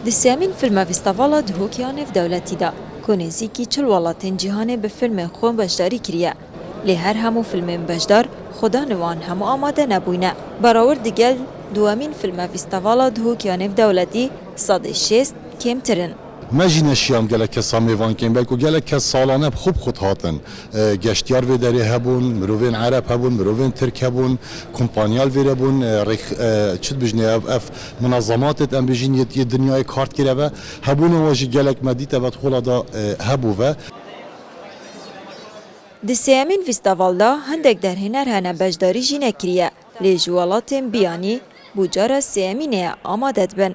Di sêyemîn Filma Vîstavala Dihokîya Nêvdewletî de ku nêzîkî çil welatên cîhanê bi filmên xwe beşdarî kiriye lê her hemû filmên beşdar xwedanê wan hemû amade nebûyne. Berawird digel duwemîn Filma Vîstavala Dihokîya Nêvdewletî sedê şêst kêmtir in. Me jî neşiyand gelek kesa mêvankên be ku gelek kes salane bi xwe bi xwe dihatin. Geştyar vê derê hebûn, mirovên Ereb hebûn, mirovên Tirk hebûn, kompanyal vê re bûn, rêx çi dibijnê ev ev munezematê em bêjîn yê yê dinyayê kartkêre ve hebûne we jî gelek me dît ev di hola de hebû ve. Di sêyemîn fîstaval de hindek derhêner hene beşdarî jî nekiriye lê ji welatên biyanî bû cara sêyemînê ye amade dibin.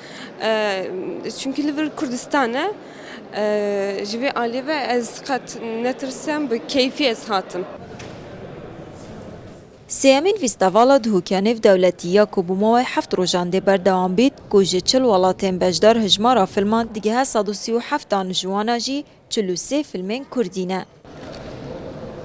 Çimkî li vir Kurdistan e. Ji vê aliyê ve ez qet netirsem bi keyfî ez hatim. Sêyemîn fîstevala Duhûkiya Nêvdewletî ya ku bi mawê heft rojan dê berdewam bît, ku ji çil welatên beşdar hijmara filman digihe sed û sî û heft an ji wan a jî çil û sê filmên Kurdî ne.